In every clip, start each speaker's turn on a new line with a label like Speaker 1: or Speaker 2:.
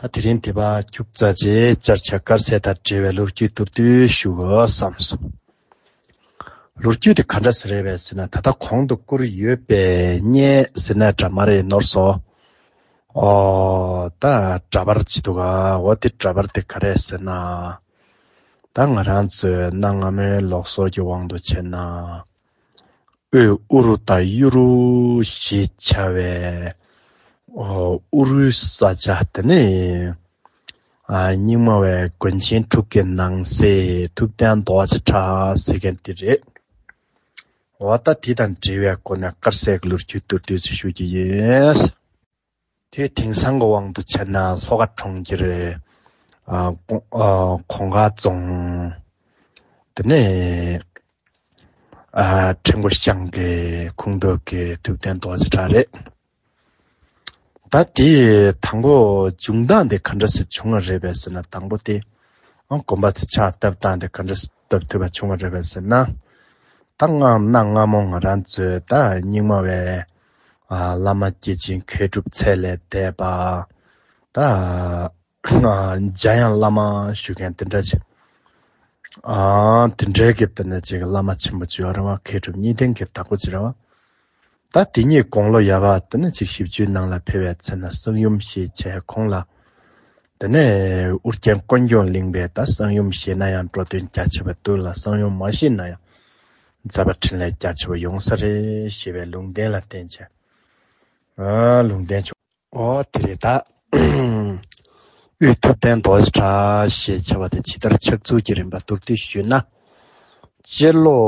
Speaker 1: ད་དེ་རིང་དེ་པ་རྒྱུགས་རྩ་རྗེས་བསྐྱར་བྱ་དཀར་ཟས་དང་འབྲེལ་བའི་ལོ་རྒྱུས་བསྡུར་དུས་ཞུགས་བསམ་སོང། ལོ་རྒྱུས་དེ་ག་འདྲ་ཟེར་རེད་བས་ཟེར་ན་ད་ལྟ་གོང་དུ་བསྐུར་ཡོད་པས་རྙེད་ཟེར་ན་འདྲ་མ་རེད་ནོར་སོ། ཨོ། ད་འདྲ་པར་བྱེད་འདུག་གའོ་དེ་འདྲ་པར་དེ་ག་རེད་ཟེར་ན། ད་ང་རང་ཚོས་གནའ་སྔ་མོའི་ལོག་སོགས་ཀྱི་དབང་དུ་བྱས་ན། དབུས་ཨུ་རུ་དང་གཡུ་རུ་ཞེས་བྱ་བའི་ཨུ་རུའི་ས་ཆ་དེ་ནི་རྙིང་མ་བའི་དགོན་ཆེན་དྲུག་གི་ནང་གསེས་ཐུབ་བསྟན་རྡོ་རྗེ་བྲག་ཟེར་མཁན་དེ་རེད། འོ་ད་དེ་དང་འབྲེལ་བའི་སྐོར་ནས་དཀར་ཟས་ཀྱི་ལོ་རྒྱུས་བསྟོད་བསྟོད་ཅིག་ཞུ་རྒྱུ་ཡིན། དེའི་དེང་སང་གི་དབང་དུ་བྱས་ན་ལྷོ་ཁ་གྲོང་ཁྱེར་གོང་ཁ་རྫོང་དེ་ནས་ཁྲི་མགོ་ཤང་གི་ཁུངས་འདུས་ཀྱི་ཐུབ་བསྟན་རྡོ་རྗེ་བྲག་རེད། ད་དེའི་དང་པོ་འབྱུང་སྟངས་དེ་ག་འདྲ་ཞིག་བྱུང་བ་རེད་བས་ཟེར་ན་དང་པོ་དེ་དགོན་པ་དེ་ཕྱག་བཏབ་སྟངས་དེ་ག་འདྲ་ཞིག་བཏབ་ཐུབ་པ་བྱུང་བ་རེད་བས་ཟེར་ན། ད་སྔ་ན་སྔ་མོ་ང་རང་ཚོའི་ད་རྙིང་མ་བའི་བླ་མ་སྐྱེས་ཆེན་མཁས་གྲུབ་ཚད་ལས་འདས་པ། འཇའ་ཡང་བླ་མ་ཞུ་མཁན་དེ་འདྲ་ཅིག། དེ་འདྲའི་གི་དེ་འདྲ་ཅིག་བླ་མ་ཆེན་པོ་བྱེ་བ་ར་བ་མཁས་གྲུབ་གཉིས་ལྡན་གི་བདག་པོ་བྱེ་ར་བ། ད་དེ་གཉིས་དགོངས་ལོ་ཡ་བ་དེ་འདྲ་ཅིག་བཞི་བཅུའི་ནང་ལ་འཕེལ་བའི་ཚེ་ན་གསང་ཡུམ་ཞེས་བྱའི་ཁོང་ལ། དེ་ནས་ཨུ་རྒྱན་དཀོན་མཆོག་གླིང་པས་ད་གསང་ཡུམ་བཞེས་ན་ཡང་འགྲོ་དོན་རྒྱ་ཆེ་བ་བསྟུན་ལ་གསང་ཡུམ་མ་བཞེས་ན་ཡང་མཛད་པ་ཕྲིན་ལས་རྒྱ་ཆེ་བ་ཡོང་ས་རེད་ཞེས་པའི་ལུང་བསྟན་ལ་བརྟེན་བྱས། ལུང་བསྟན་བྱུང། འོ་དེ་རེད་ད། དབུས་ཐུབ་བསྟན་རྡོ་རྗེ་བྲག་ཞེས་བྱ་བ་དེ་ཇི་ལྟར་ཕྱག་ཚུལ་གྱི་རིམ་པ་མདོར་བསྡུས་ཞུས་ན། སྤྱིར་ལོ་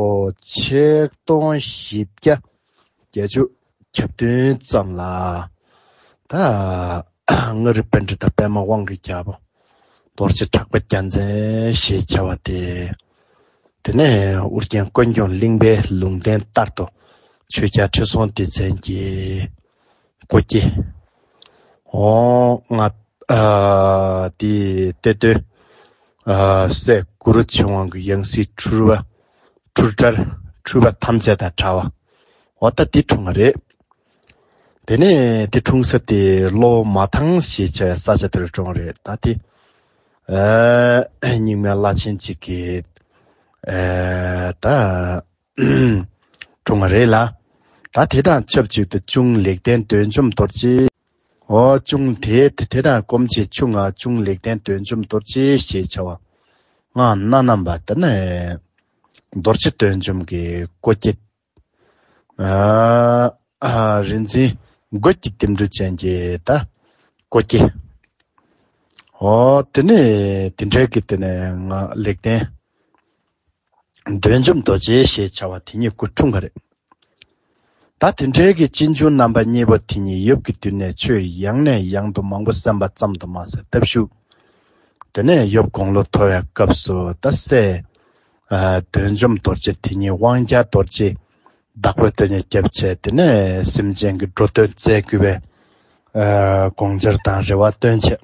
Speaker 1: ཆིག་སྟོང་བཞི་བརྒྱ་བརྒྱ་བཅུ། ཁྱབ་སྟོན་ཙམ་ལ། ད་སྔ་རི་པཎ་གྲི་དང་པདྨ་དབང་གི་རྒྱབ། རྡོ་རྗེ་གྲགས་པ་རྒྱ་མཚན་ཞེས་བྱ་བ་སྟེ། དེ་ནས་ཨུ་རྒྱན་དཀོན་མཆོག་གླིང་པའི་ལུང་བསྟན་ལྟར་དུ་ཆོས་རྒྱ་ཁྲི་སྲོང་ལྡེ་བཙན་གྱི་སྐུ་སྐྱེ། འོང་ལྔ། དེའི་གཏེར་སྟོན། སྲས་གུ་རུ་ཆེན་དབང་གི་ཡང་སྲིད་འཁྲུལ་བ་འཁྲུལ་དགྲར་འཁྲུལ་པ་ཐམས་ཅད་དང་བྲལ་བ། འོ་ད་འདི་འཁྲུངས་ང་རེད། དེ་ནས་དེ་འཁྲུངས་ས་དེ་ལོ་མ་ཐང་ཞེས་བྱ་བའི་ས་ཆ་དེར་འཁྲུངས་རེད་ད་དེ། རྙིང་མའི་བླ་ཆེན་གཅིག་གིས་ད་འཁྲུངས་ང་རེད་ལ། ད་དེ་དང་ཆབས་ཅིག་ཏུ་ཅུང་ལེགས་ལྡན་འདོད་འཇོམས་རྡོ་རྗེ། འོ་ཅུང་དེ་དེ་དང་སྐོམ་ཆེ་ཆུང་ང་ཅུང་ལེགས་ལྡན་འདོད་འཇོམས་རྡོ་རྗེ་ཞེས་བྱ་བ། སྔགས་སྣ་རྣམས་པ་དེ་ནས་རྡོ་རྗེ་སྟོན་འཇོམས་ཀྱི་སྐུ་བསྐྱེད། རིག་འཛིན་རྒོད་ཀྱི་བསྟིམ་འབྲུ་ཅན་གྱི་སྐུ་བསྐྱེད། དེ་ནས་དེ་འབྲེལ་གྱི་དེ་ནས་ལེགས་ལྡན་འདོད་འཇོམས་རྡོ་རྗེ་ཞེས་བྱ་བ་དེ་ཉིད་སྐུ་འཁྲུངས་པ་རེད། ད་དེ་འཕྲལ་གྱི་གཅེན་གཅུང་རྣམ་པ་གཉིས་པོ་དེ་གཉིས་ཡུབ་ཀྱི་དུས་ནས་ཆོས་ཡང་ནས་ཡང་དུ་མང་པོ་གསན་པ་ཙམ་དུ་མ་ཟད་སྟབས་ཤུགས། དེ་ནས་ཡུབ་དགུང་ལོ་མཐོ་བའི་སྐབས་སུ་རྡ་སའི། འདོན་འཇོམས་རྡོ་རྗེ་དེ་ཉིད་དབང་རྒྱལ་རྡོ་རྗེའི་བདག་པོའི་སྟོད་ཉེ་རྒྱབ་བྱས་དེ་ནས་སེམས་ཅན་གྱི་འགྲོ་དོན་མཛད་བསྐུལ་བའི། དགོངས་འཆར་དང་རེ་བ་བཏོན་ཆེད།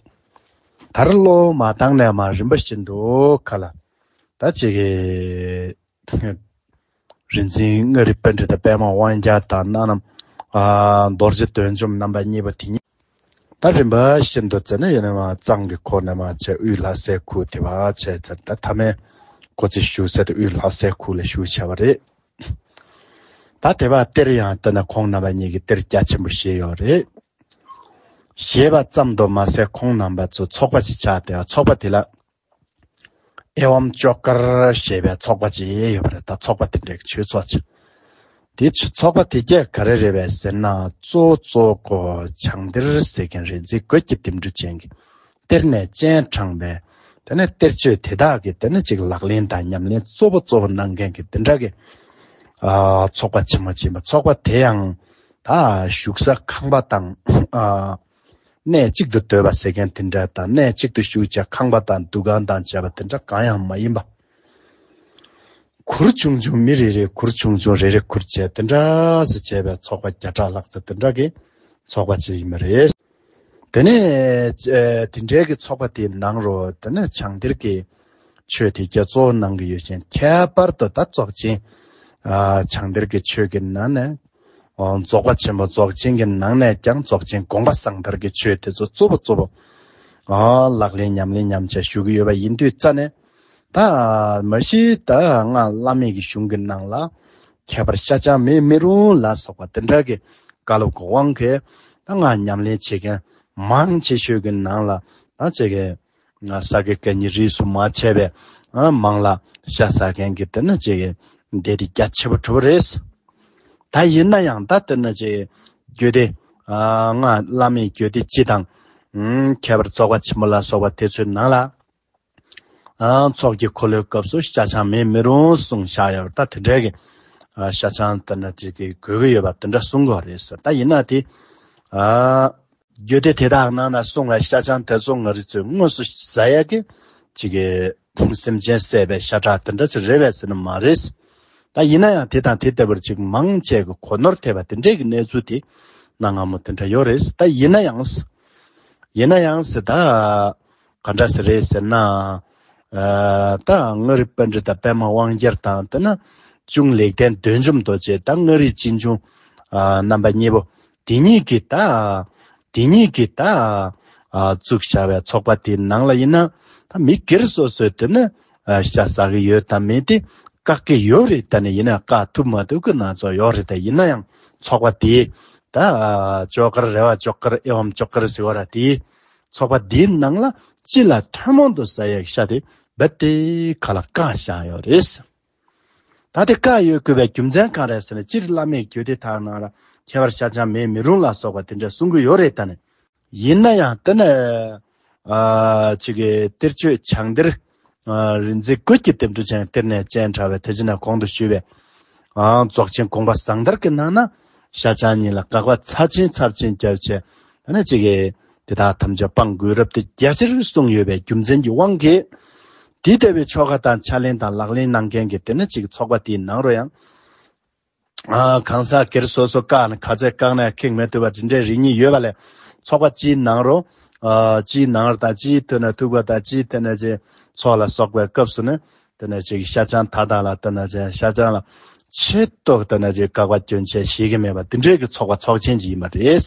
Speaker 1: དར་ལོ་མ་བཏང་ནས་མ་རིམ་པ་བཞིན་དུ་ཁ་ལ་ད་ཅིག། རིག་འཛིན་ལྔ་རིག་པ་འདྲེ་དང་པདྨ་དབང་རྒྱ་དང་སྣ་ནམ། རྡོ་རྗེ་དོན་འཇོམས་རྣམ་པ་གཉིས་པ་དེ་ཉིད། ད་རིམ་པ་བཞིན་དུ་བཙལ་ན་ཡོད་ནི་མ་གཙང་གི་འཁོར་ནི་མ་བྱས་དབུས་ལྷ་སའི་ཁུག་དེ་བ་བྱས་བཙལ་ན་ད་ཐ་མའི་འཁོར་ཚིག་ཞུགས་གསལ་དུ་དབུས་ལྷ་སའི་ཁུག་ལ་ཞུགས་བྱ་བ་རེད། ད་དེ་བ་གཏེར་ཡང་བལྟ་ན་ཁོང་རྣམ་པ་གཉིས་ཀྱི་གཏེར་རྒྱ་ཆེན་པོ་བཞེས་ཡོད་རེད། ཞེས་པ་ཙམ་དུ་མ་ཟད་ཁོང་རྣམ་པ་ཚོ་ཚོགས་པ་ཞིག་ཆགས་ཏེ་ཚོགས་པ་དེ་ལ། ཨེ་ཝམ་ལྕོག་དཀར་ཞེས་པའི་ཚོགས་པ་གཅིག་ཡོད་པ་རེད་ད་ཚོགས་པ་དེ་འདྲའི་ཆོས་ཚོགས་ཅིག་དེ་ཚོགས་པ་དེ་རྒྱ་ག་རེ་རེད་བས་ཟེར་ན་གཙོ་བོ་གཙོ་བོ་བྱང་གཏེར་ཟེར་མཁན་རེད་འཛིན་བཀོད་ཀྱི་དེབ་འབྲུ་ཅན་གྱི་གཏེར་ནས་སྤྱན་དྲངས་པའི་དེ་ནས་གཏེར་ཆོས་དེ་དག་གི་དེ་ནས་ཅིག་ལག་ལེན་དང་ཉམས་ལེན་གཙོ་བོ་གཙོ་བོ་གནང་མཁན་གྱི་དེ་འདྲ་གི་ཚོགས་པ་ཆེན་མོ་གཅིག་ཡིན་པ་ཚོགས་པ་དེ་ཡང་ད་བཞུགས་ས་ཁང་པ་དང། གནས་གཅིག་ཏུ་སྡོད་པ་ཟེར་མཁན་དེ་འདྲ་དང་གནས་གཅིག་ཏུ་བཞུགས་བྱ་ཁང་པ་དང་འདུ་ཁང་དང་བྱ་བ་དེ་འདྲ་གང་ཡང་མ་ཡིན་པ། གུར་ཆུང་ཆུང་མི་རེ་རེས་གུར་ཆུང་ཆུང་རེ་རེ་གུར་བྱས་དེ་འདྲ་ཟེར་བྱས་པའི་ཚོགས་པ་བརྒྱ་ཕྲག་ལྷག་ཚེ་དེ་འདྲ་གི་ཚོགས་པ་ཅིག་ཡིན་པ་རེད། དེ་ནས། དེ་འདྲའི་གི་ཚོགས་པ་དེའི་ནང་རུ་དེ་ནས་བྱང་གཏེར་གྱི། ཆོས་དེ་རྒྱ་མཚོ་ནང་གི་ཡོད་ཅིང་ཁྱད་པར་དུ་ད་རྫོགས་ཆེན་བྱང་གཏེར་གྱི་ཆོས་ཀྱི་ནང་ནས་རྫོགས་པ་ཆེན་པོ་རྫོགས་ཆེན་གྱི་ནང་ནས་ཀྱང་རྫོགས་ཆེན་དགོངས་པ་གསང་ཐར་གྱི་ཆོས་དེ་ཚོ་གཙོ་བོ་གཙོ་བོ་ལག་ལེན་ཉམས་ལེན་ཉམས་བྱ་ཞུ་གི་ཡོད་པ་ཡིན་དུས་རྩ་ནས་ད་མ་གཞི་ད་སྔ་བླ་མེད་ཀྱི་གཞུང་གི་ནང་ལ་ཁྱད་པར་ཤ་ཆང་མེད་མི་རུང་ལ་སོགས་པ་དེ་འདྲ་གི་བཀའ་སློབ་གི་དབང་གིས་ད་སྔ་ཉམས་ལེན་བྱེད་མཁན་མང་ཆེ་ཤོས་ཀྱི་ནང་ལ་ད་བྱེད་མཁན་ང་ཟ་གི་སྐད་གཉིས་རིས་སུ་མ་ཆད་པའི་མང་ལ། ཤ་ཟ་མཁན་གྱི་དེ་ནི་ཅི་ཡི་འདི་རིགས་རྒྱ་ཆེ་པོ་གྲུབ་རེད། ད་ཡིན་ན་ཡང་ད་དེ་ནི་ཅི་ཡི་རྒྱུད་སྡེ། ང་བླ་མའི་རྒྱུད་སྡེ་སྤྱི་དང། ཁྱད་པར་ཙོག་པ་ཆེན་པོ་ལ་སོགས་པ་དེ་ཚོའི་ནང་ལ། ཚོགས་ཀྱི་འཁོར་ལོའི་སྐབས་སུ་ཤ་ཆང་མེད་མི་རུང་གསུང་བཞག་ཡོད་པ་ད་དེ་འདྲའི་ཤ་ཆང་དེ་ནི་ཅི་གི་དགོས་ཀྱི་ཡོད་པ་དེ་འདྲ་གསུང་དགོས་རེད་ཟེར་ད་ཡིན་ན་དེ། རྒྱུ་དེ་དེ་དག་ནང་ན་གསུང་ལ་ཤ་ཆང་དེ་ཚོ་ང་རི་ཚོས་དངོས་སུ་བཟའ་ཡ་གི། ཅི་གི། སེམས་ཅན་བསད་པའི་ཤ་ཁྲག་དེ་འདྲ་ཅིག་རེད་བས་ཟེར་ནི་མ་རེད། ད་ཡིན་ན་ཡང་དེ་དང་དེ་ལྟ་བུར་ཅིག་མང་ཆས་གི་གོ་ནོར་ཐེབས་པ་དེ་འདྲས་གི་གནས་ཚུལ་དེ་གནའ་སྔ་མོ་དེ་འདྲ་ཡོད་རེད་ད་ཡིན་ན་ཡང། ཡིན་ན་ཡང་ཟེར་ད། ག་འདྲ་ཟེར་རེད་ཟེར་ན། ད་ང་རི་པཎ་ཏྲི་དང་པད་མ་དབང་རྒྱལ་དང་དེ་ན། ཅུང་ལེགས་ལྡན་བདུད་འཇོམས་རྡོ་རྗེ་ད་ང་རིའི་སྤྱི་འབྱུང། རྣམ་པ་གཉིས་པོ། དེ་གཉིས་ཀྱི་བདག། དེ་གཉིས་ཀྱི་བདག། གཙུག་བྱ་བའི་ཚོགས་པ་དེའི་ནང་ལ་ཡིན་ན། ད་མི་སྒེར་སོ་སོས་དེ་ནི་བྱ་ཟ་གི་ཡོད་དམ་མེད་དེ་བཀག་གི་ཡོད་རེད་ད་ནི་ཡིན་ན་བཀག་ཐུབ་མ་ཐུབ་ཀྱི་སྣ་ཚོགས་ཡོད་རེད་ད་ཡིན་ན་ཡང་ཚོགས་པ་དེའི་བདག། ཇོ་ཀར་རེ་བ་ཇོག་ཀར་ཨེ་འོམ་ཇོག་ཀར་ཟེར་བ་ར་དེའི་ཚོགས་པ་དེའི་ནང་ལ་སྤྱི་ལ་ཐུན་མོང་དུ་བཟའ་ཡག་ཤ་དེ་རྦད་དེ་ག་ལ་བཀག་བཞག་ཡོད་རེད། ད་ལྟའི་བཀའ་ཡོད་དགོས་པའི་རྒྱུ་མཚན་གང་རེད་ཟེར་ནས་སྤྱིར་བླ་མས་གྱོད་དེ་དག་ནང་ལ་ཁྱད་པར་ཤ་ཅང་མེད་མི་རུང་ལ་སོགས་པ་དེ་འདྲ་གསུང་གི་ཡོད་རེད་ད་ནི། ཡིན་ན་ཡང་དེ་ནས་ཅིག་གཏེར་ཆོས་བྱང་གཏེར་རིན་འཛིན་བཀོད་ཀྱི་དེབ་འབྲུ་ཅན་གཏེར་ནས་ཅན་དྲ་བའི་དེ་ཅི་ནས་གོང་དུ་ཞུས་པའི་རྫོགས་ཆེན་དགོངས་པ་བཟང་དར་གྱི་ནང་ན་ཤ་ཅང་ཉིད་ལ་དགག་པ་ཚབས་ཆེན་ཚབས་ཆེན་རྒྱབ་ཆེན་ད་ནི་ཅིག་དེ་དག་ཐམས་ཅད་སྤང་དགོས་རབ་སྟེ་རྒྱལ་སྲིད་རུལ་སུངས་ཡོད་པའི་རྒྱུ་མཚན་གྱི་དབང་གིས། དེ་ལྟ་བུའི་ཆོ་ག་དང་ཕྱག་ལེན་དང་ལག་ལེན་གནང་མཁན་གྱི་དེ་ན་ཅིག་ཚོགས་པ་དེའི་ནང་རུ་ཡང། གང་ཟག་སྒེར་སོ་སོ་ཀ་ན་ག་ཚད་བཀག་ནས་ཁེགས་མེད་ཐུབ་པ་འདི་འདྲའི་རིགས་གཉིས་ཡོད་པ་ལས་ཚོགས་པ་སྤྱིའི་ནང་རུ། སྤྱིའི་ནང་རུ་དང་སྤྱིའི་དུས་ན་ཐུག་པ་དང་སྤྱིའི་དེ་ན་ཅིག་ཚོགས་ལ་སོགས་པའི་སྐབས་སུ་ནི། དེ་ན་ཅིག་ཤ་ཆང་ད་དང་ལ་དེ་ན་ཅིག་ཤ་ཆང་ལ། ཆེད་དུ་དེ་ན་ཅིག་བཀག་པ་སྐྱོན་ཆེ་བྱེད་ཀྱི་མེད་པ་འདི་འདྲའི་གི་ཚོགས་པ་ཚོགས་ཆེན་གྱི་ཡིན་པ་རེད།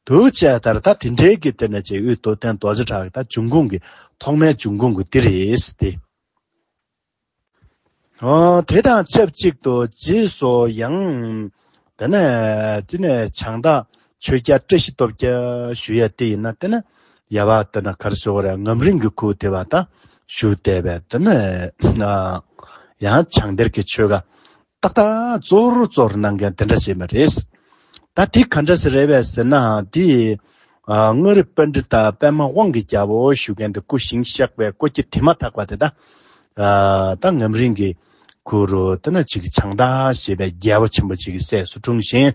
Speaker 1: དུ་བཅས་མཐར་ད་དེ་འབྲེལ་གྱི་དེ་ནས་ཅེས་དབུས་སྟོད་བསྟན་རྡོ་རྗེ་བྲག་གི་ད་འབྱུང་ཁུངས་ཀྱི་ཐོག་མའི་འབྱུང་ཁུངས་ཀྱི་དེ་རེད་དེ། དེ་དང་ཆབས་ཅིག་ཏུ་རྗེས་སུ་ཡང། དེ་ནས་དེ་ནས་བྱང་བདག་ཆོས་རྒྱལ་བཀྲ་ཤིས་སྟོབས་རྒྱལ་ཞུ་ཡས་དེ་ཡིན་ན་དེ་ནས་ཡལ་བ་དེ་ནས་གར་སོ་རས་ངམ་རིང་གི་ཁུག་དེ་བ་ད་ཞུ་དེ་བས་དེ་ནས་ཡང་བྱང་གཏེར་གྱི་ཆོས་དགའ་ཏག་ཏག་གཙོ་བོར་གཙོ་བོར་གནང་མཁན་དེ་འདྲ་ཞིག་མ་རེད། ད་དེ་ག་འདྲ་ཞིག་རེད་བས་ཟེར་ན་དེ། དངོས་རིགས་དཔལ་འབྲི་དང་པད་མ་དབང་གི་རྒྱལ་པོ་ཞུ་མཁན་དེ་སྐུ་ཞིང་བཤགས་པའི་སྐོར་གྱི་དེ་མ་ཐག་པ་དེ་ད། ད་ངམ་རིང་གི། གུ་རུ་དེ་ན་ཅིག་བྱང་བདག་ཞེས་པའི་རྒྱལ་པོ་ཆེན་པོ་ཅིག་གི་སྲས་སུ་འཁྲུངས་ཤིང།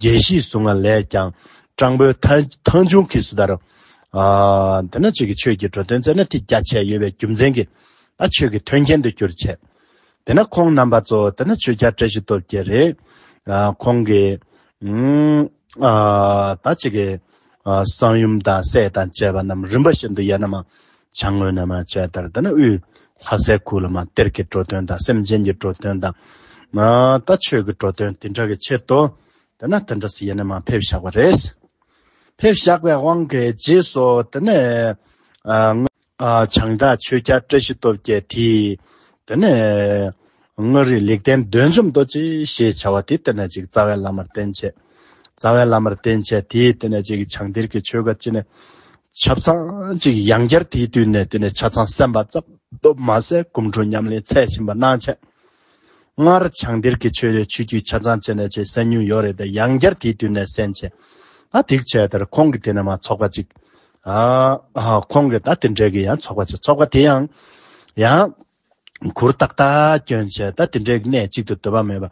Speaker 1: རྒྱལ་སྲིད་བཟུང་བ་ལས་ཀྱང་སྤྲང་པོའི་ཐང་ཆུང་གིས་སུ་དར། འདི་ན་ཅིག་གིས་ཆོས་ཀྱི་འགྲོ་དོན་མཛད་ན་ཐིག་རྒྱ་ཆད་ཡོད་པའི་རྒྱུ་མཚན་གྱིས་ད་ཆོས་ཀྱི་དོན་མཁྱེན་དུ་གྱུར་བྱས། དེ་ན་ཁོང་རྣམ་པ་གཙོ་བོ་དེ་ན་ཆོས་རྒྱ་བཀྲ་ཤིས་སྟོབས་རྒྱལ་རེད། ཁོང་གིས། ད་ཅིག་གིས། གསང་ཡུམ་དང་སྲས་དང་བཅས་པ་རྣམས་རིམ་པ་བཞིན་དུ་ཡལ་ན་མ། བྱ་དངོས་རྣལ་མ་བྱས་ལྟར་འདི་ནི་དབུས། ལྷ་སའི་གུ་ལུ་མ་གཏེར་གྱི་འགྲོ་དོན་དང་སེམས་ཅན་གྱི་འགྲོ་དོན་དང། ད་ཆོས་ཀྱི་འགྲོ་དོན་དེ་འདྲ་གི་ཕྱིར་དུ། དེ་ནས་དེ་འདྲ་སུ་ཡིན་ནི་མ་ཕེབས་བཞག་པ་རེད། ཕེབས་བཞག་པའི་དབང་གི་རྗེས་སུ་དེ་ནས། བྱང་བདག་ཆོས་རྒྱལ་བཀྲ་ཤིས་སྟོབས་རྒྱལ་དེས། དེ་ནས། སྔགས་རིག་ལེགས་ལྡན་འདོན་བཅོམ་རྡོ་རྗེ་ཞེས་བྱ་བ་དེ་སྟེར་ན་ཅིག་རྩ་བའི་བླ་མར་བསྟེན་བྱས། རྩ་བའི་བླ་མར་བསྟེན་བྱས་དེས་བསྟེན་ན་ཅིག་བྱང་གཏེར་གྱི་ཆོས་བཀའ་ཅི་ནས། ཆབ་ཚང་ཅིག་ཡང་བསྐྱར་དེའི་དུས་ནས་བསྟེན་ནས་ཆ་ཚང་གསན་པ་རྩ་སྟོབས་མ་གསལ་སྐུ་འཁྲུངས་ཉམས་ལེན་ཚད་ཕྱིན་པ་སྣང་བྱས། སྔར་བྱང་གཏེར་གྱི་ཆོས་ལས་ཆོས་བརྒྱུད་ཆ་ཚང་བྱས་ནས་ཅིག་གསན་མྱོང་ཡོད་རེད་དེ་ཡང་བསྐྱར་དེའི་དུས་ནས་གསན་བྱས། ད་དེག་བྱས་དེར་ཁོང་གི་དེ་ནས་མ་ཚོགས་པ་ཅིག། ཁོང་གི་ད་དེ་འབྲེལ་གྱི་ཡང་ཚོགས་པ་ཅིག་ཚོགས་པ་དེ་ཡང། ཡང། གུ་རུ་རྟག་ཏཱ་སྐྱོན་ཆེ་ད་དེ་འདྲའི་གནས་གཅིག་ཏུ་འདོད་པ་མེད་པ་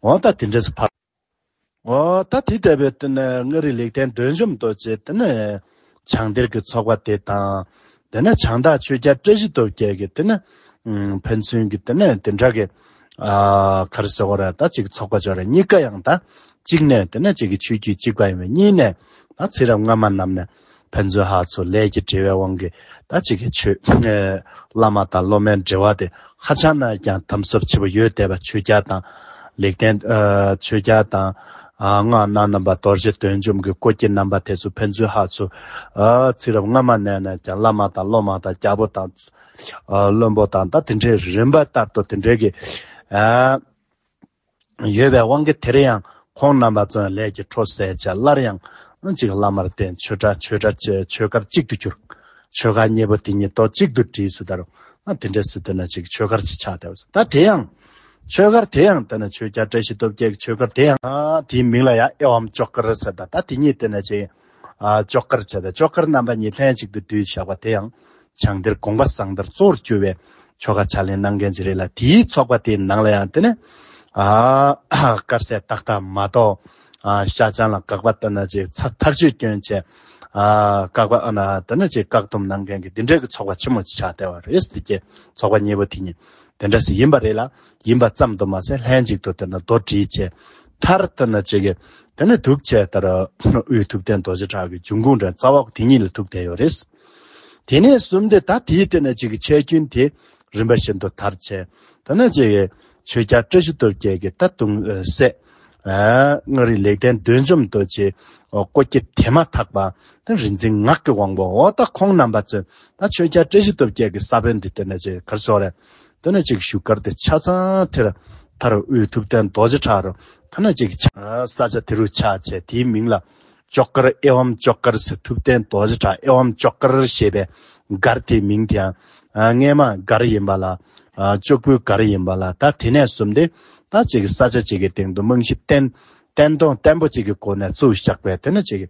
Speaker 1: འོ་ད་དེ་འདྲས་སུ་འཕགས། འོ་ད་དེ་ལྟ་བུའི་དེ་ནས་མངའ་རིས་ལེགས་ལྡན་འདོད་འཇོམས་རྡོ་རྗེ་དེ་ནས་བྱང་གཏེར་གྱི་ཚོགས་པ་དེ་དང། དེ་ནས་བྱང་དག་ཆོས་རྒྱ་བཀྲ་ཤིས་སྟོབས་རྒྱལ་གྱི་དེ་ནས་ཕན་ཚུན་གྱི་དེ་ནས་དེ་འདྲ་གི། ག་རེ་ཟེར་བ་ར་ད་ཅིག་ཚོགས་པ་ཅིག་ར་གཉིས་ཀ་ཡང་ད་གཅིག་ནས་དེ་ནས་ཅིག་གི་ཆོས་བརྒྱུད་གཅིག་པ་ཡིན་པས་གཉིས་ནས་ད་ཚེ་རབས་སྔ་མ་རྣམས་ནས་ཕན་ཚུན་ཧ་ཚོད་ལས་ཀྱི་འབྲེལ་བའི་དབང་གིས་ད་གཅིག་གི་ཆོས། བླ་མ་དང་སློབ་མའི་འབྲེལ་བ་དེ་ཧ་ཅང་ན་ཀྱང་དམ་ཟབ་ཆེ་བོ་ཡོད་བསྡད་པ་ཆོས་རྒྱལ་དང། ལེགས་ལྡན། ཆོས་རྒྱལ་དང། སྔགས་སྣ་རྣམ་པ་རྡོ་རྗེ་བདུད་འཇོམས་ཀྱི་སྐུ་སྐྱེ་རྣམ་པ་དེ་ཚོ་ཕན་ཚུན་ཧ་ཚོད། ཚིག་རབ་སྔ་མ་ནས་ནས་ཀྱང་བླ་མ་དང་སློབ་མ་དང་རྒྱལ་པོ་དང། བློན་པོ་དང་ད་དེ་འདྲའི་རིམ་པ་ལྟར་དུ་དེ་འདྲའི་གི། ཡོད་པའི་དབང་གིས་དེར་ཡང་ཁོང་རྣམ་པ་ཙོན་ལས་ཀྱི་འཕྲོ་གསལ་བྱས་སླར་ཡང་གཅིག་བླ་མར་བརྟེན་ཆོས་གྲྭ་ཆོས་གྲྭ་བཅས་ཆོས་སྒར་གཅིག་ཏུ་གྱུར། ཆོས་སྒར་གཉིས་པོ་དེ་ཉིད་ཏོ་གཅིག་ཏུ་བསྒྲིལ་ཚུལ་ལྟར་ན་དེ་འདྲའི་སྲིད་དོན་ན་ཅིག་ཆོས་སྒར་གཅིག་ཆགས་བསྡད་པ་ཟེར་ད་དེ་ཡང། ཆོས་སྒར་དེ་ཡང་བསྟན་ན་ཆོས་རྒྱལ་བཀྲ་ཤིས་སྟོབས་རྒྱལ་གྱི་ཆོས་སྒར་དེ་ཡང། དེའི་མིང་ལ་ཡང་ཨེ་ཝམ་ཅོག་གར་ཟེར་ད་ད་དེ་ཉིད་བསྟན་ན་ཅིག། ལྕོག་དཀར་བྱ། ལྕོག་དཀར་རྣམ་པ་གཉིས་ལྷན་ཅིག་ཏུ་བསྡུས་བྱ་བ་དེ་ཡང་བྱང་གཏེར་དགོངས་པ་གསང་བརྡར་གཙོ་བོར་གྱུར་བའི་ཆོ་ག་ཕྱག་ལེན་གནང་མཁན་གྱི་རེད་ལ་དེའི་ཚོགས་པ་དེའི་ནང་ལ་ཡང་དེ་ནི། དཀར་ཟས་ཏག་ཏག་མ་གཏོགས། ཤ་ཆང་ལ་བཀག་པ་ལྟར་ན་ཅིག་ཚ་ཐག་གཅོད་སྐྱོན་བྱས། བཀག་པ་ལྟར་ན་ཅིག་བཀག་སྡོམ་གནང་མཁན་གྱི་འདི་འདྲའི་གྱི་ཚོགས་པ་ཆེན་མོ་ཅིག་ཆགས་བསྡད་བ་རེད་ཟེར་གྱི་ཚོགས་པ་གཉིས་པོ་དེ་གཉིས་དེ་འདྲ་ཞིག་ཡིན་པ་རེད་ལ་ཡིན་པ་ཙམ་དུ་མ་ཟད་ལྷན་ཅིག་ཏུ་དེ་ནི་རྡོར་དྲིལ་བཅས། མཐར་ལྟར་ན་ཅི་དགོས་དེ་ནི་ཐུགས་བཅས་ལྟར་དབུས་ཐུབ་བསྟན་རྡོ་རྗེ་བྲག་གི་འབྱུང་ཁུངས་འདྲ་རྩ་བ་དེ་ཉིད་ལ་ཐུག་བསྡད་ཡོད་རེད། དེ་ནས་གསུམ་སྟེ་ད་དེའི་སྟེང་ན་ཅིག་གི་ཆད་སྐྱོན་དེ་རིམ་པ་བཞིན་དུ་མཐར་ཆད་དེ་ན་ཅིག་གི་ཆོས་རྒྱ་བཀྲ་ཤིས་སྟོབས་རྒྱལ་གྱི་ད་དུང་སྲས། མངའ་རིས་ལེགས་ལྡན་འདོད་འཇོམས་རྡོ་རྗེའི་སྐུ་སྐྱེ་དེ་མ་ཐག་པ་དེ་རིག་འཛིན་ངག་གི་དབང་པོ་འོ་ད་ཁོང་རྣམ་པ་ཚོས་ད་ཆོས་རྒྱ་བཀྲ་ཤིས་སྟོབས་རྒྱལ་གྱི་ས་བོན་འདི་སྟེང་ན་ཅིག་གར་སོང་རེད་དེ་ནས་ཅིག་བཞུགས་སྒར་དེ་ཆ་ཚང་དེར། མཐར་དབུས་ཐུབ་བསྟན་རྡོ་རྗེ་བྲག་རུ། ཐ་ན་ཅིག། ས་ཆ་དེ་རུ་ཆགས་བྱས་དེའི་མིང་ལ། ལྕོག་སྒར་ཨེ་ཝམ་ལྕོག་སྒར་ཟེར་ཐུབ་བསྟན་རྡོ་རྗེ་བྲག་ཨེ་ཝམ་ལྕོག་སྒར་ཞེས་པའི་སྒར་དེའི་མིང་དེའང། རྔས་མ་སྒར་ཡིན་པ་ལ། ལྕོག་བུའི་སྒར་ཡིན་པ་ལ་ད་དེ་ནས་བཟུང་སྟེ། ད་ཅིག་ས་ཆ་ཅིག་གི་སྟེང་དུ་རྨང་གཞི་བརྟན། བརྟན་གདོང་བརྟན་པོ་ཅིག་གི་སྒོ་ནས་བཙུགས་བཞག་པས་དེ་ནི་ཅིག།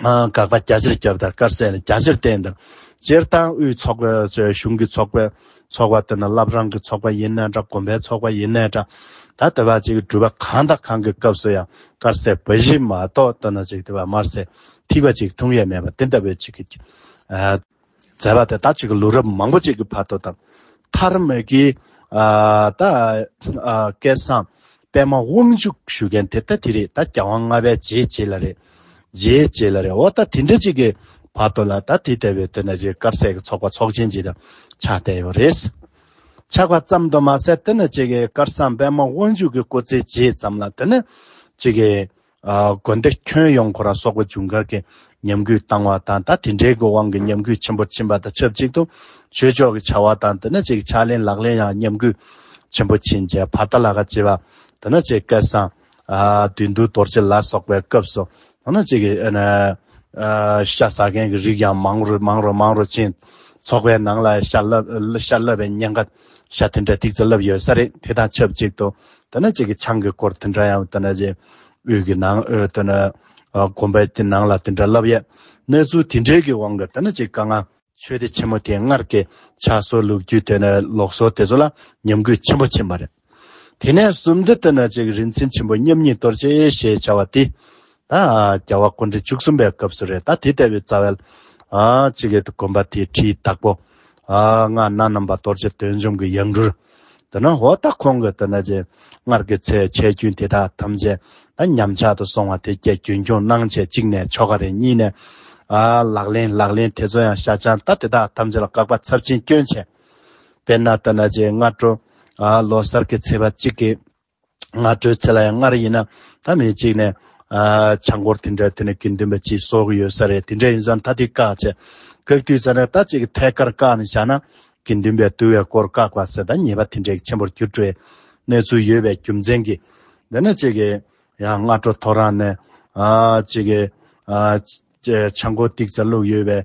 Speaker 1: དགག་པ་རྒྱ་ཆེར་བརྒྱབ་དང་དཀར་ཟས་ནི་རྒྱ་ཆེར་བསྟན་དང། སྤྱིར་ཏང་ཨུའི་ཚོགས་པའི་ཚོའི་གཞུང་གི་ཚོགས་པའི་ཚོགས་པ་དེ་ནི་བླ་བྲང་གི་ཚོགས་པ་ཡིན་ནའི་འདྲ་དགོན་པའི་ཚོགས་པ་ཡིན་ནའི་འདྲ། ད་ལྟ་བ་ཅིག་གི་འགྲུལ་པ་གང་དང་གང་གི་སྐབས་སུ་ཡང་དཀར་ཟས་འབའ་ཞིག་མ་གཏོགས་ལྟོས་ན་ཅིག་དེ་བ་དམར་ཟས་ཐིགས་པ་ཅིག་འཐུང་ཡས་མེད་པ་དེ་ལྟ་བུའི་ཅིག་གི། མཛད་པ་དེ་ད་ཅིག་ལོ་རབས་མང་པོ་ཅིག་གི་བར་དུ་དང། མཐར་མེག་གི་ད་སྐལ་བཟང་པད་མ་དབང་ཕྱུག་ཞུ་མཁན་དེ་ད་དེ་རེད་ད་རྒྱལ་དབང་ལྔ་པའི་རྗེས་བྱེད་ལ་རེད། རྗེས་བྱེད་ལ་རེད་འོ་ད་དེ་འདྲ་ཅིག་གི་བར་དུ་ལ་ད་དེ་ལྟ་བུའི་དེ་ན་ཅིག་དཀར་ཟས་ཀྱི་ཚོགས་པ་ཚོགས་ཆེན་ཅིག་དང་ཆགས་བསྡད་ཡོད་རེད། ཆགས་པ་ཙམ་དུ་མ་ཟད་དེ་ན་ཅིག་གི་དཀར་བཟང་པད་མ་དབང་ཕྱུག་གི་སྐུ་ཚེའི་རྗེས་ཙམ་ལ་དེ་ན་ཅིག་གི་དགོན་སྡེ་ཁྱོན་ཡོངས་གོ་ར་སོག་པོ་ཇུན་གར་གྱི་ཉམས་རྒུད་བཏང་བ་དང་ད་དེ་འདྲའི་དགོས་དབང་གི་ཉམས་རྒུད་ཆེན་པོར་ཕྱིན་པ་དང་ཆབས་ཅིག་ཏུ་ཆོས་ཕྱོགས་ཀྱི་བྱ་བ་དང་དེ་ན་བཅས་ཀྱི་ཕྱག་ལེན་ལག་ལེན་ཡང་ཉམས་རྒུད་ཆེན་པོ་ཕྱིན་རྗེས་བར་ད་ལ་ཁ་ཆེ་བ་དེ་ན་བཅས་སྐལ་བཟང། བདུད་འདུལ་རྡོ་རྗེ་ལ་སོགས་པའི་སྐབས་སུ་དེ་ན་བཅས་ཀྱི་ཤ་ཟ་མཁན་གྱི་རིགས་ཀྱང་མང་རུ་མང་རུ་མང་རུ་ཕྱིན། ཚོགས་པའི་ནང་ལ་ཤ་བསླབས་པའི་གཉེན་ཁ། ཤ་དེ་འདྲ་ཏིག་ཙེ་བསླབ་ཡོད་ས་རེད་དེ་དང་ཆབས་ཅིག་ཏུ། ད་ནི་ཁྱེད་ཀྱི་ཆང་གི་སྐོར་དེ་འདྲ་ཡང་ད་ནི་རྗེ། དབུས་ཀྱི་ནང་ཨོལ་ཏོ་ན། དགོན་པའི་དེ་ནང་ལ་དེ་འདྲ་བསླབ་ཡས། གནས་ཚུལ་དེ་འདྲའི་གི་དབང་གིས་ད་ནི་ཅིག་དཀའ་ང། ཆོས་སྡེ་ཆེན་མོ་དེ་སྔར་གྱི་ཕྱག་སྲོལ་ལུགས་རྒྱུད་དེ་ནི་ལོག་སྲོལ་དེ་ཚོ་ལ་ཉམས་གུད་ཆེན་པོ་ཕྱིན་པ་རེད། དེ་ནས་བཟུང་སྟེ་ད་ནི་ཅིག་རིན་ཆེན་ཆེན་པོ་མཉམ་ཉིད་གཏོར་བྱེད་ཞེས་བྱ་བ་དེ། ད་རྒྱལ་བ་དཀོན་མཆོག་བཅུ་གསུམ་པའི་སྐབས་སུ་རེད་ད་དེ་ལྟ་བུའི་རྩ་བའི། ཅི་གེ་ཏུ་དགོན་པ་དེའི་ཁྲིའི་བདག་པོ། སྔགས་སྣ་རྣམ་པ་རྡོ་རྗེ་དོན་འབྱུང་གི་ཡང་སྤྲུལ། འདི་ན་འོ་ད་ཁོང་གིས་འདི་ན་རྗེ། སྔར་གྱི་ཚེ་ཆད་རྒྱུན་དེ་དག་ཐམས་ཅད་ད་ཉམས་ཆག་ཏུ་སོང་བ་དེ་སྐད་རྒྱུན་འཁྱོངས་གནང་བྱས་གཅིག་ནས་ཆོ་ག་རེ་གཉིས་ནས། ལག་ལེན་ལག་ལེན་དེ་ཚོ་ཡང་ཤ་ཆང་ད་དེ་དག་ཐམས་ཅད་ལ་བཀག་པ་ཚབས་ཆེན་སྐྱོན་ཆེ། དཔེར་ན་ད་ན་རྗེ་སྔ་དྲོ། ལོ་གསར་གྱི་ཚེས་པ་གཅིག་གི། སྔ་དྲོའི་ཚེ་ལ་ཡང་སྔར་ཡིན་ན་ད་མི་གཅིག་ནས། ཆང་སྐོར་དེ་འདྲ་དེ་ནས་དགེ་འདུན་པ་གཅིག་གསོག་གི་ཡོད་ས་རེད་དེ་འདྲ་ཡིན་ས་མཐའ་དེ་བཀག་བྱས། བཀག་དུས་ཚར་ན་ད་གཅིག་གི་ཐད་ཀར་བཀག་ནས་བཞག་ན། དགེ་འདུན་པའི་འདུ་བའི་སྐོར་བཀག་པ་ཟེར་ད་ཉེས་པ་དེ་འདྲའི་ཆེན་པོར་གྱུར་འགྲོའི་གནས་ཚུལ་ཡོད་པའི་རྒྱུ་མཚན་གྱིས། འདི་ནས་གཅིག་གིས་ཡང་སྔ་དྲོ་ཐོ་རངས་ནས། གཅིག་གིས། ཆང་སྐོར་ཏིག་ཙམ་བླུགས་ཡོད་པའི།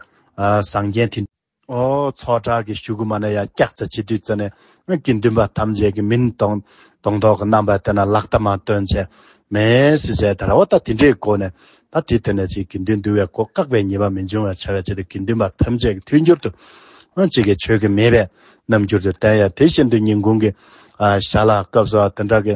Speaker 1: ཟངས་རྒྱན་དེ། ཚོགས་གྲལ་གྱི་ཞུ་གུ་མ་ནས་ཡར་བཀྱག་ཙེ་བྱེད་དུས་ཙི་ནས་ཀྱི་འདུན་པ་ཐམས་ཅད་ཀྱི་མིང་དང་དང་ཐོག་གི་རྣམ་པ་དེ་ན་ལག་བསྟར་མ་སྟོན་ཆེ་མེད་སི་བྱས་དར་བ་ད་དེ་འདྲའི་སྒོ་ནས་ད་དེ་དེ་ནས་ཅིག་གི་འདུན་འདུལ་བའི་སྒོ་བཀག་པའི་ཉེས་པ་མི་འབྱུང་བར་བྱ་བའི་ཆེད་དུ་ཀྱི་འདུན་པ་ཐམས་ཅད་ཀྱི་མཐུན་འགྱུར་དུ་ཅིག་གི་ཆོས་ཀྱི་མེད་པའི་རྣམ་འགྱུར་དུ་བསྟན་ཡང་དེ་བཞིན་དུ་ཉིན་གུང་གི་ཞག་ལ་སྐབས་སུའང་དེ་འདྲ་གི་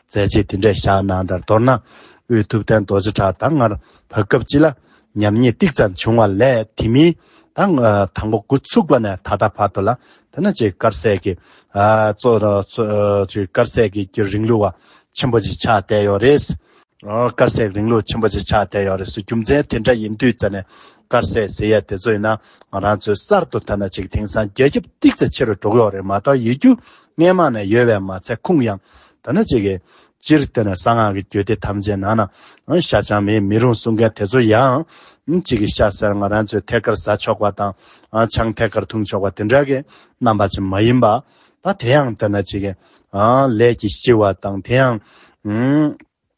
Speaker 1: མཛད་རྗེས་དེ་འདྲའི་ཞག་ནང་དང་མདོར་ན། དབུས་ཐུབ་བསྟན་རྡོ་རྗེ་བྲག་དང་ངར་བ་སྐབས་གཅིག་ལ། ཉམས་ཉེས་ཏིག་ཙམ་བྱུང་བ་ལས་དེ་མིན། དང། དང་པོ་དགུ་ཚུགས་པ་ནས་ད་ལྟ་བར་དུ་ལ། དེ་ནི་ཅིག་དཀར་ཟས་ཀྱི། ཅིག་དཀར་ཟས་ཀྱི་རིང་ལུགས་བ། ཆེན་པོ་ཅིག་ཆགས་བསྡད་ཡོད་རེད། དཀར་ཟས་ཀྱི་རིང་ལུགས་ཆེན་པོ་ཅིག་ཆགས་བསྡད་ཡོད་རེད། རྒྱུ་མཚན་དེ་འདྲ་ཡིན་དུས་ཙཱ་ནས། དཀར་ཟས་ཟེར་ཡས་དེ་ཚོ་ཡིན་ན། ང་རང་ཚོའི་གསར་དུ་ཐོན་ན་ཅིག་དེང་སང་རྒྱལ་ཁྱབ་ཏིག་ཙམ་ཆེ་རུ་འགྲོ་གི་ཡོད་རེད་མ་གཏོགས་ཡོད་རྒྱུ་སྔས་མ་ནས་ཡོལ་བས་མ་ཚད་ཁུངས་ཡང་དག་ན་ཅི་གི། སྤྱིར་བསྟན་ན་གསང་སྔགས་ཀྱི་རྒྱུད་སྡེ་ཐམས་ཅད་ནང་ན་ཤ་ཆང་མེད་མི་རུང་གསུང་མཁན་དེ་ཚོ་ཡང། ཅི་གི་ཤ་ཟེར་ང་རང་ཚོས་ཐད་ཀར་བཟའ་ཆོག་པ་དང། ཆང་ཐད་ཀར་འཐུང་ཆོག་པ་དེ་འདྲ་གི་རྣམ་པ་ཅན་མ་ཡིན་པ། ད་དེ་ཡང་བསྟན་ན་ཅི་གི། ལས་ཀྱི་ལྕི་བ་དང་དེ་ཡང།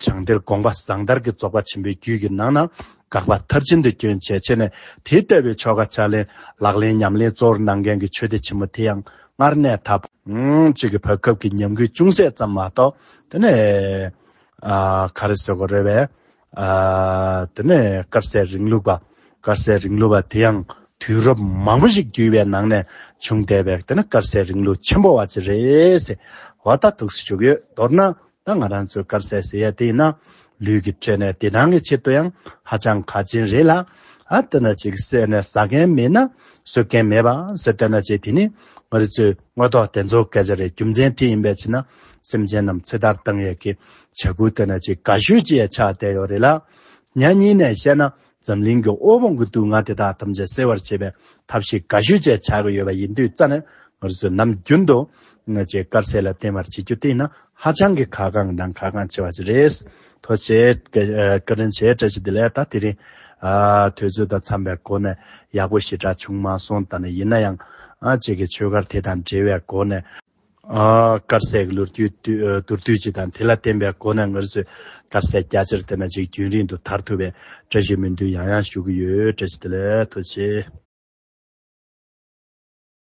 Speaker 1: བྱང་གཏེར་དགོངས་པ་ཟང་ཐར་གྱི་རྫོགས་པ་ཆེན་པོའི་རྒྱུད་ཀྱི་ནང་ན་དགག་པ་མཐར་ཕྱིན་དུ་སྐྱོན་བྱས་ཕྱེ་ནས་དེའི་ལྟ་བའི་ཆོ་ག་ཕྱག་ལེན་ལག་ལེན་ཉམས་ལེན་གཙོ་བོར་གནང་མཁན་གྱི་ཆོས་སྡེ་ཆེན་མོ་དེ་ཡང་སྔར་གནས་མཐའ་གཅིག་གི་བར་སྐབས་ཀྱི་ཉམས་རྒུད་ཅུང་ཟད་ཙམ་མ་གཏོགས་དེ་ནས་ག་རེ་ཟེར་གོ་རེ་བས། དེ་ནས་དཀར་ཟས་རིང་ལུགས་པ། དཀར་ཟས་རིང་ལུགས་པ་དེ་ཡང་དུས་རབས་མང་པོ་ཞིག་བརྒྱུད་པའི་ནང་ནས་བྱུང་བསྡད་པས་དེ་ནི་དཀར་ཟས་རིང་ལུགས་ཆེན་པོ་བ་ཅི་རེད་ཟེར་བ་ལྟ་ཐུགས་སུ་བཅུག་ཡོད། མདོར་ན་ད་ང་རང་ཚོས་སྐབས་གསལ་ཟེར་ཡ་དེ་ཡིན་ན། ལུས་ཀྱི་སྤྲོས་ནས་བདེ་ཐང་གི་ཆེད་དུ་ཡང་ཧ་ཅང་གལ་ཆེན་རེད་ལ། ཨ་ཏི་ན་ཅིག་བསད་ནས་ཟ་མཁན་མེད་ན་གསོད་མཁན་མེད་པ་ཟེར་དེ་ན་ཅིག་དེ་ནི་ང་རི་ཚོའི་དངོས་ཐོག་དེ་ཚོ་སྐད་ཆ་རེད་རྒྱུ་མཚན་དེ་ཡིན་པའི་ཕྱིར་ན་སེམས་ཅན་རྣམས་ཚེ་ཐར་བཏང་ཡས་ཀྱི་བྱ་འགུལ་དེ་ན་ཅིག་ག་ཤོད་ཅིག་ཡ་ཆགས་བསྡད་ཡོད་རེད་ལ། ཉག་ཉིང་ནས་བཤད་ན་འཛམ་གླིང་གི་དབུལ་ཕོངས་ཀྱི་དུག་ལྔ་དེ་དག་ཐམས་ཅད་སེལ་བར་བྱེད་པའི་ཐབས་ཤེས་འགའ་ཤོས་བཅས་བྱ་དགོས་ཡོད་པ་ཡིན་དུས་རྩ་ནས་ངར་བཟོད་ནམ་རྒྱུན་དུ་ང་ཅེས་དཀར་ཟས་ལ་བརྟེན་པར་བྱེད་རྒྱུ་དེ་ཡིན་ན་ཧ་ཅང་གི་གལ་འགངས་དང་གལ་འགངས་ཆེ་བ་ཞིག་རེད། དོ་ཆེ། བཀའ་དྲིན་ཆེ་བཀྲ་ཤིས་བདེ་ལེགས་ད་དེ་རིང། དུས་ཚོད་དང་འཚམས་པའི་སྒོ་ནས་ཡག་པོ་ཞེ་དྲག་བྱུང་མ་སོང་ད་ནི་ཡིན་ན་ཡང། ཁྱེད་ཀྱི་ཆོས་སྒར་དེ་དང་འབྲེལ་བའི་སྒོ་ནས། དཀར་ཟས་ཀྱི་ལོ་རྒྱུས་དུར་བསྡུས་བྱས་དང་དེ་ལ་བརྟེན་པའི་སྒོ་ནས་ངར་ཚོས་དཀར་ཟས་རྒྱ་ཆེར་བསྟེན་པ་ཅིག་རྒྱུན་རིང་དུ་དར་ཐུབ་པའི་བཀྲ་ཤིས་སྨོན་འདུན་ཡང་ཡང་ཞུ་གི་ཡོད་བཀྲ་ཤིས་བདེ་ལེགས་ཐུགས་ཆེ།